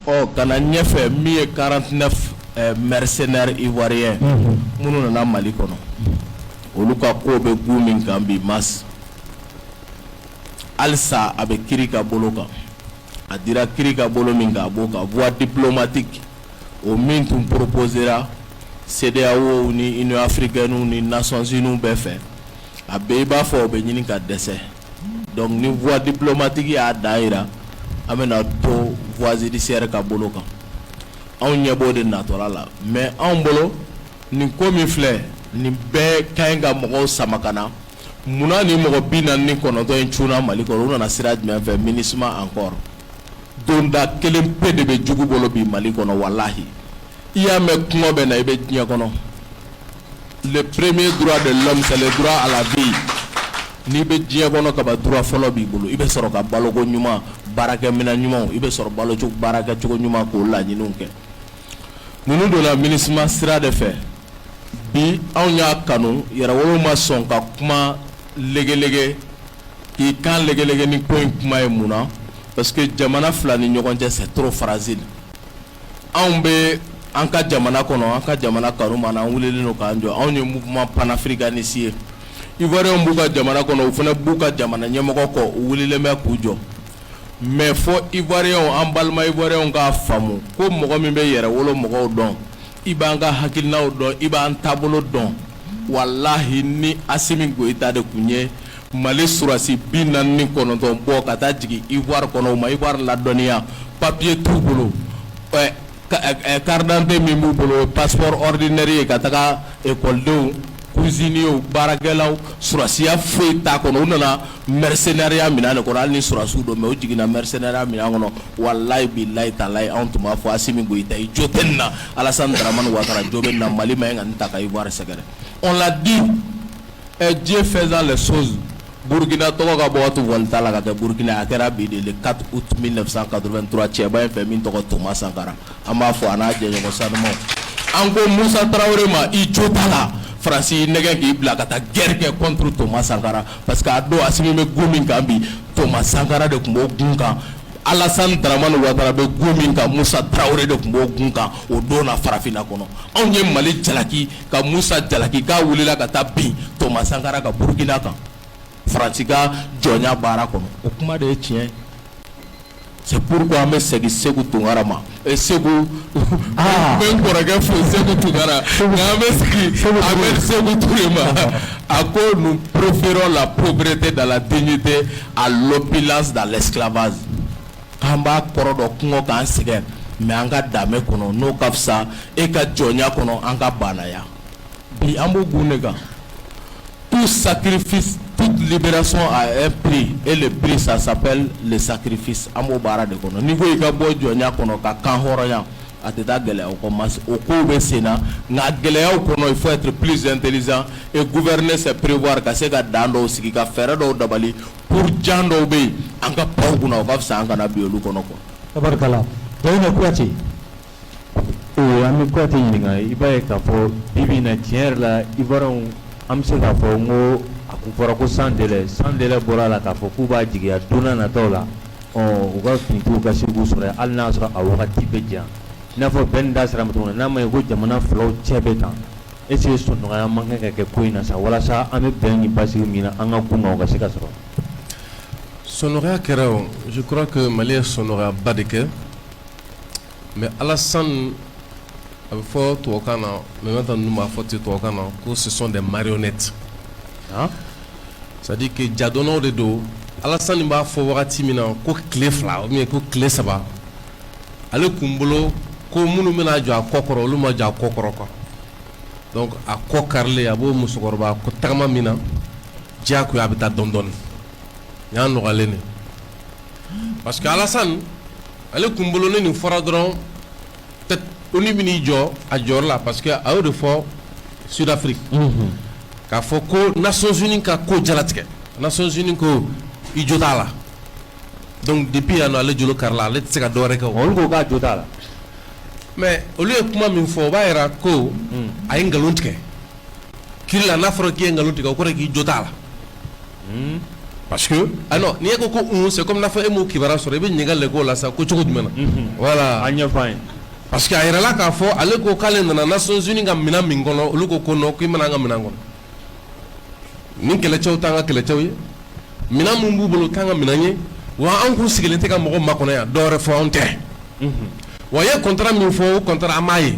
Ɔ ka na ɲɛfɛ min ye 49 ɛɛ mercenaires ivoiriens unhun, minnu nana Mali kɔnɔ, olu ka ko bɛ gun min kan bi mais halisa a bɛ kiri ka bolo kan, a dira kiri ka bolo min kan a b'o kan voie diplomatique o min tun proposer ra CEDEAO ni Union africaine ni Nations unies bɛɛ fɛ, a bɛ i b'a fɔ o bɛ ɲini ka dɛsɛ. donc ni voie diplomatique y'a dan yira an bɛna to voie judiciaire ka bolo kan anw ɲɛ b'o de natɔla la mais anw bolo nin ko min filɛ nin bɛɛ ka ɲi ka mɔgɔw sama ka na munna nin mɔgɔ bi naani ni kɔnɔntɔn in cunna mali kɔnɔ u nana sira jumɛn fɛ minusma encore donda kelen pe de bɛ jugu bolo bi mali kɔnɔ walahi i y'a mɛn kunko bɛ n na i bɛ diɲɛ kɔnɔ le premier droit de l'homme c'est le droit à la vie n'i bɛ diɲɛ kɔnɔ kaba droit fɔlɔ b'i bolo i bɛ sɔrɔ ka baloko ɲuman baarakɛminɛn ɲumanw i bɛ sɔrɔ balo cogo baarakɛ cogo ɲuman k'o laɲiniw kɛ ninnu donna minusma sira de fɛ bi anw y'a kanu yɛrɛwolo ma sɔn ka kuma legelege k'i kan legelege ni ko in kuma ye mun na parce que jamana fila ni ɲɔgɔn cɛ c'est trop fragile anw bɛ an ka jamana kɔnɔ an ka jamana kanuma na an wulilen don k'an jɔ anw ye mouvement panafricaniste ye ivoiriens b'u ka jamana kɔnɔ u fana b'u ka jamana ɲɛmɔgɔ kɔ u wulilen bɛ k'u jɔ mais fo ivoiriens an balima ivoiriens k'a faamu ko mɔgɔ min bɛ yɛrɛwolo mɔgɔw dɔn i b'an ka hakilinaw dɔn i b'an taabolo dɔn walahi ni asimi goyita de tun ye mali sɔrɔsi bi naani ni kɔnɔntɔn bɔ ka taa jigin ivoire kɔnɔ u ma ivoire ladɔnniya papiye t'u bolo carte d'identité min b'u bolo passeport ordinaire ye ka taga écoledenw cuisiniers baarakɛlaw sɔrɔsiya foyi t'a kɔnɔ u nana mrirenyariya min de kɔnɔ hali ni sɔrɔsiw don mɛ o jiginna mrirenyariya min kɔnɔ wa layi bi layi ta layi anw tun b'a fɔ a min i ta i jo tɛ na alasamani wa jo bɛ na mali ma in ka nin ta ka i wari sɛgɛrɛ o la di ɛ diɲɛ fɛnsan la so burukina tɔgɔ ka bɔ walita la ka kɛ burukina a kɛra bi de ka u tun bɛ nasa ka dɔrɔntura cɛba in fɛ min tɔgɔ toma sankara an b'a fɔ an n'an jɛɲɔgɔn sanumanw an ko musa tarawele ma i jo t'a la faransi i nɛgɛn k'i bila ka taa guerre kɛ contre toma sankara parce que a don asimi bɛ gun min kan bi toma sankara de tun b'o gun kan alasan daramani watara bɛ gun min kan musa tarawele de tun b'o gun kan o don na farafinna kɔnɔ anw ye mali jalaki ka musa jalaki k'a wulila ka taa bin toma sankara ka burukina kan faransi ka jɔnya baara kɔnɔ o kuma de ye tiɲɛ c'est pourquoi an bɛ segin Seku Tunkara ma eh, Seku n ah. bɛ n kɔrɔkɛ fo Seku Tunkara nka an bɛ segin Ahmed Seku Ture ma a ko nous préférons la pauvreté dans la dignité à l'opulence dans l'esclavage k'an b'a kɔrɔ dɔn kungo k'an sɛgɛn mais an ka danbe kɔnɔ n'o ka fisa e ka jɔnya kɔnɔ an ka baanaya bi an b'o gun de kan tout sacrifice toute libération a un prix et le prix ça s'appelle le sacrifice an b'o baara de kɔnɔ n'i ko i ka bɔ jɔnya kɔnɔ ka kan hɔrɔnya a tɛ taa gɛlɛyaw kɔ mais o kow bɛ sen na nka gɛlɛyaw kɔnɔ il faut être plus intelligent et gouverner c'est prévoir ka se ka dan dɔw sigi ka fɛɛrɛ dɔw dabali pour jan dɔw bɛ yen an ka pan u kunna o ka fisa an kana bin olu kɔnɔ quoi. tabarikala Dawuda Kuyate An bɛ Kuyate ɲininka i b'a ye k'a fɔ bi bi in na tiɲɛ yɛrɛ la Ivoiriens an bɛ se k'a fɔ n ko a kun fɔra ko sans délai bɔra a la k'a fɔ k'u b'a jigiya don nataw la u ka finitigiw ka se k'u sɔrɔ hali n'a sɔrɔ a wagati bɛ jan i n'a fɔ bɛɛ n da sera a ma cogo min na n'a ma ye ko jamana filaw cɛ bɛ kan est-ce que sɔnnɔgɔya man kan ka kɛ ko in na sa walasa an bɛ bɛn ni basigi min na an ka kun kan o ka se ka sɔrɔ sɔnnɔgɔya kɛra o je crois que Mali ye sɔnnɔgɔyaba de kɛ mais Alasani a bɛ fɔ tubabukan na maintenant ninnu b'a fɔ ten tubabukan na ko ce sont des marionnettes c'est-à-dire que jadɔnw de don Alasani b'a fɔ wagati min na ko tile fila ou bien ko tile saba ale kun bolo ko minnu bɛna jɔ a kɔ kɔrɔ olu ma jɔ a kɔ kɔrɔ quoi donc a kɔ karilen a b'o musokɔrɔba ko tagama min na diyagoya a bɛ taa dɔɔni dɔɔni y'a nɔgɔyalen de parce que Alasani ale kun bolo ni nin fɔra dɔrɔn ko ONU bɛn'i jɔ a jɔyɔrɔ la parce que a y'o de fɔ Sud-Afrique k'a fɔ ko Nations Unies ka ko jalatigɛ Nations Unies ko i jo t'a la donc depuis yan nɔ ale jolo karila ale tɛ se ka dɔwɛrɛ kɛ olu ko k'a jo t'a la mais olu ye kuma min fɔ o b'a yira ko a ye nkalon tigɛ kiri la n'a fɔra k'i ye nkalon tigɛ o kɔrɔ k'i jo t'a la parce que ah non n'i e ko ko un c'est comme n'a fɔ e m'o kibaruya sɔrɔ i bɛ ɲininkali de k'o la sa ko cogo jumɛn na voilà a ɲɛfɔ an ye parce que a yirala k'a fɔ ale ko k'ale nana Nations Unies ka minɛn min kɔnɔ olu ko ko non k'i ma na an ka minɛn kɔnɔ ni kɛlɛcɛw t'an ka kɛlɛcɛw ye minɛn min b'u bolo o t'an ka minɛn ye wa anw kun sigilen tɛ ka mɔgɔ makɔnɔ yan dɔwɛrɛ fɔ anw tɛ wa i ye contrat min fɔ o contrat an m'a ye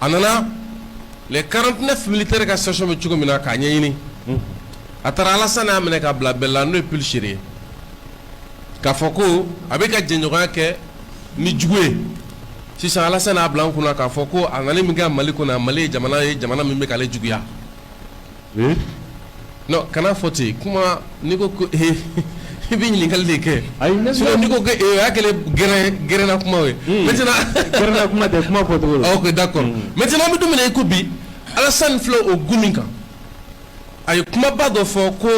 a nana les 49 militaires ka situation bɛ cogo min na k'a ɲɛɲini, unhun, a taara Alasani y'a minɛ k'a bila bɛlɛ la n'o ye Pulchérie ye k'a fɔ ko a bɛ ka jɛɲɔgɔnya kɛ ni jugu ye sisan Alasani y'a bila an kunna k'a fɔ ko a nali min kɛ Mali kɔnɔ yan Mali ye jamana ye jamana min bɛ k'ale juguya kana fɔ ten kuma n'i ko ko e i bɛ ɲininkali de kɛ ayi n'i ko a kɛlen gɛrɛn na kuma ye maintenant gɛrɛn na kuma tɛ kuma fɔ OK d'accord maintenant bɛ dumuni i ko bi Alasani fila o g min kan a ye kumaba dɔ fɔ ko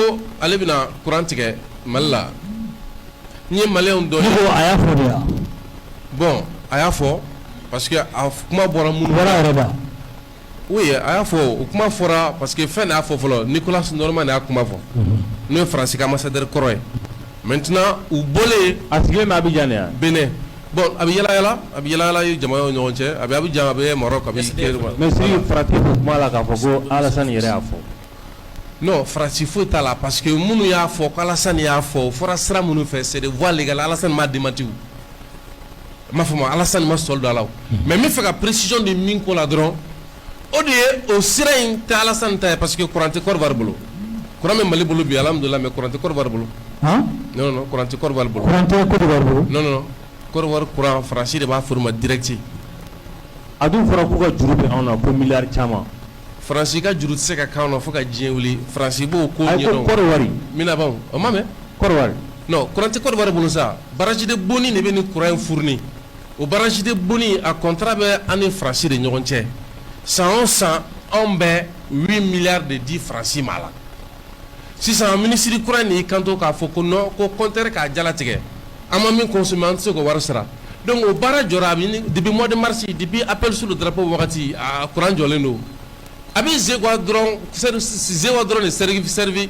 ale bɛna kuran tigɛ mali la n ye mali dɔn a y'a fɔ yan bon a y'a fɔ parce que a kuma bɔra mun yɛrɛ Oui a y'a fɔ o kuma fɔra parce que fɛn y'a fɔ fɔlɔ Nicolas Normand y'a kuma fɔ n'o ye Faransi ka ambassadeur kɔrɔ ye maintenant o bɔlen a sigilen Abijan bɛn bon a bɛ yaalayaala a bɛ yaalayaala u jamanaw ɲɔgɔn cɛ a bɛ Abijan a bɛ Maroc farati kuma la k'a fɔ ko Alasani yɛrɛ y'a fɔ non Faransi foyi t'a la parce que minnu y'a fɔ Alasani y'a fɔ a fɔra sira minnu fɛ c'est des voies légales Alasani ma démenti m'a fɔ Alasani ma sɔrɔ dɔ la mais n b'a fɛ ka précision di min ko la dɔrɔn o de ye o sira in tɛ Alasani ta ye parce que kuran tɛ Kɔdiwari bolo kuran bɛ mali bolo bi alhamdulilahi mais kuran tɛ Kɔdiwari bolo non kuran tɛ Kɔdiwari bolo non Kɔdiwari kuran Faransi de b'a fɔ u ma direct a dun fɔra k'u ka juru bɛ anw na ko milliard caman faransi ka juru tɛ se ka k'anw na fo ka diɲɛ wuli faransi b'o ko wari minɛ bon o ma mɛn kuran tɛ Kɔdiwari bolo sa barrage de Boni de bɛ nin kuran in furuni o barrage de Boni a contrat bɛ an ni Faransi de ɲɔgɔn cɛ san o san anw bɛ huit milliards de di Faransi ma la sisan minisiri kura nin kanto k'a fɔ ko non ko compteur k'a jala tigɛ an ma min consommer an tɛ se k'o wari sara donc o baara jɔra depuis mois de mars depuis appel sous le drapeau wagati a kuran jɔlen don A bɛ Zeguwa dɔrɔn Zeguwa dɔrɔn de servi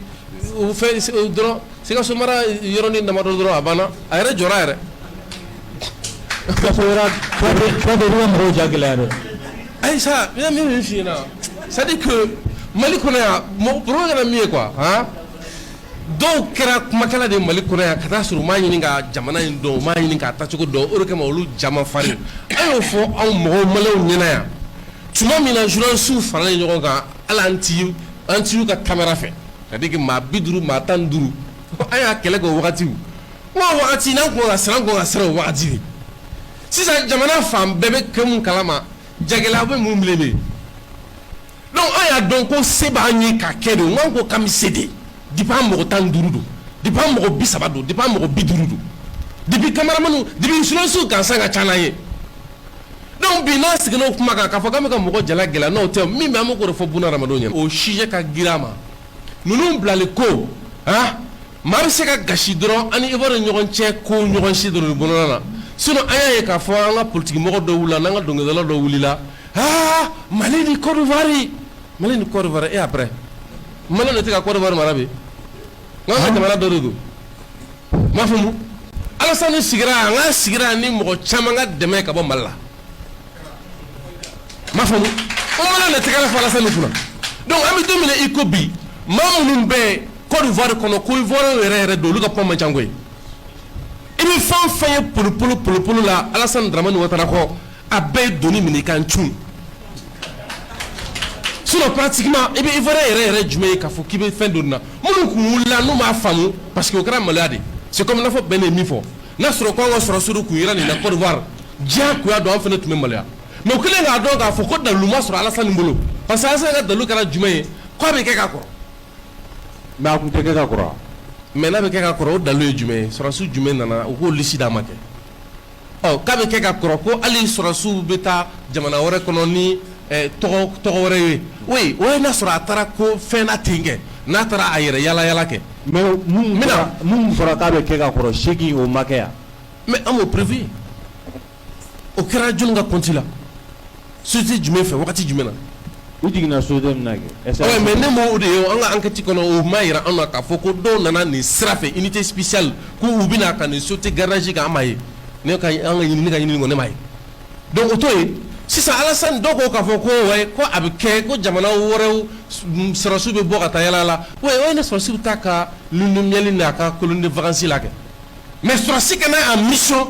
dɔrɔn sikaso mara yɔrɔnin damadɔ dɔrɔn a banna a yɛrɛ jɔra a yɛrɛ jagɛlɛya dɛ ayi min fi na c'est à dire que mali kɔnɔ yan mɔgɔ kɛra min ye quoi dɔw kɛra kumakala de mali kɔnɔ yan ka t'a sɔrɔ u m'a ɲini ka jamana in dɔn u m'a ɲini k'a taacogo dɔn o kama olu ja man farin a y'o fɔ anw mɔgɔ maliw ɲɛna yan tuma min na journalistes faralen ɲɔgɔn kan hali an TV an TV ka camera fɛ c'est à dire que maa 50 maa 15 an y'a kɛlɛ kɛ o wagatiw n ko o wagati n'an tun ka kan siran an tun ka kan ka siran o wagati de sisan jamana fan bɛɛ bɛ kɛ mun kalama jagɛlɛya bɛ mun bilen de donc an y'a dɔn ko se b'an ye ka kɛ de n k'an ko k'an bɛ se de depuis an mɔgɔ 15 don depuis an mɔgɔ 30 don depuis an mɔgɔ 50 don depuis cameraman depuis journalistes gansan ka ca n'an ye. Donc bi n'an siginna o kuma kan k'a fɔ k'an bɛ ka mɔgɔ jalaki la n'o tɛ min bɛ a mako de fɔ bunadamadenw ye o sujet ka girin maa ninnu bilali ko a maa bɛ se ka gasi dɔrɔn ani Ivoire ɲɔgɔn cɛ ko ɲɔgɔn si dɔrɔn bolo la sinon a y'a ye k'a fɔ an ka politikimɔgɔ dɔw wilila an ka dɔnkilidala dɔw wilila aa Mali ni Côte d'Ivoire Mali ni Côte d'Ivoire et après Mali de tɛ ka Côte d'Ivoire mara bi N'an ka jamana dɔ de don i m'a faamu Alasani sigira yan an k'a sigira ni mɔgɔ caman ka dɛmɛ ye ka bɔ Mali la i m'a faamu an mana na tɛgɛrɛ fɔ Alasani kunna donc an bɛ don min na i ko bi maa minnu bɛ Côte d'Ivoire kɔnɔ ko Ivoire yɛrɛ yɛrɛ don olu ka kuma man ca koyi i bɛ fɛn o fɛn ye polopolo polopolo la Alasani Daramani Watara kɔ a bɛɛ ye doni minɛ i kan c sinon pratiquement i bɛ Ivoire yɛrɛ yɛrɛ jumɛn ye k'a fɔ k'i bɛ fɛn doni na minnu tun wulila n'u m'a faamu parce que o kɛra maloya de ye c'est comme n'a fɔ Ben ye min fɔ n'a sɔrɔ ko an ka sɔrɔsiw tun yera nin na Côte d'Ivoire diyagoya don an fana tun bɛ maloya mais u kɛlen k'a dɔn k'a fɔ ko dalilu ma sɔrɔ Alassane bolo parce que Alassane ka dalilu kɛra jumɛn ye k'a bɛ kɛ ka kɔrɔ mais a tun tɛ kɛ ka kɔrɔ wa mais n'a bɛ kɛ ka kɔrɔ o dalilu ye jumɛn ye sɔrɔdasi jumɛn nana u k'o liste d'a ma kɛ Ɔ k'a bɛ kɛ ka kɔrɔ ko hali sɔrɔsiw bɛ taa jamana wɛrɛ kɔnɔ ni tɔgɔ wɛrɛ ye ouais o ye n'a sɔrɔ a taara ko fɛn na ten kɛ n'a taara a yɛrɛ yala yala kɛ mais minnu fɔra k'a bɛ kɛ ka kɔrɔ c'est que n'o ma kɛ yan mais an m'o prévu o kɛra jɔn ka compte la société jumɛn fɛ waati jumɛn na u jiginna société mais ne m'o de ye an ka enquête kɔnɔ u m'a jira an na k'a fɔ ko dɔw nana nin sira fɛ unité spéciale ko u bɛna ka nin société gardage kɛ an m'a ye ne ka ɲinini kɔni ne m'a ye donc o to yen sisan Alasani dɔw ko k'a fɔ ko ouais ko a bɛ kɛ ko jamana wɛrɛw sɔrɔsiw bɛ bɔ ka taa yala la ouais o ye ne sɔrɔsi bɛ taa a ka lune de miel n'a ka colonie de vacances la kɛ mais sɔrɔsi ka na en mission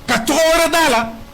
ka tɔgɔ wɛrɛ da a la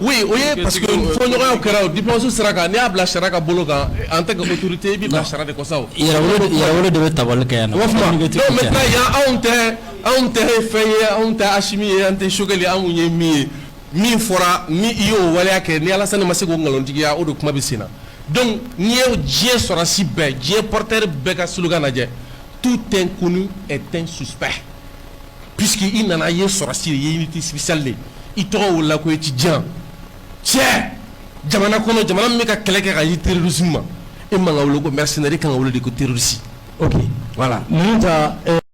Oui o ye parce que fɔɲɔgɔnya kɛra o diplomatie sira kan n'i y'a bila sariya ka bolo kan en tant que autorité i b'i bila sariya de kɔ sa o, yɛrɛwolo de yɛrɛwolo de bɛ tabali kɛ yan nɔ, donc maintenant yan anw tɛ anw tɛ fɛn ye anw tɛ Asimi ye an tɛ Sogɛli ye anw ye min ye min fɔra ni i y'o waleya kɛ ni Alasani ma se k'o nkalontigiya o de kuma bɛ sen na donc n'i ye diɲɛ sɔrɔdasi bɛɛ diɲɛ porteur bɛɛ ka slogan lajɛ tout inconnu est un suspect Pseke i nana i ye sɔrɔsi ye tɛsali i tɔgɔ la ko ci jan cɛ jamana kɔnɔ jamana min bɛ ka kɛlɛ kɛ ka i terirusi ma e man wolo ko mɛ sɛnɛri ka wolo de ko terisi wala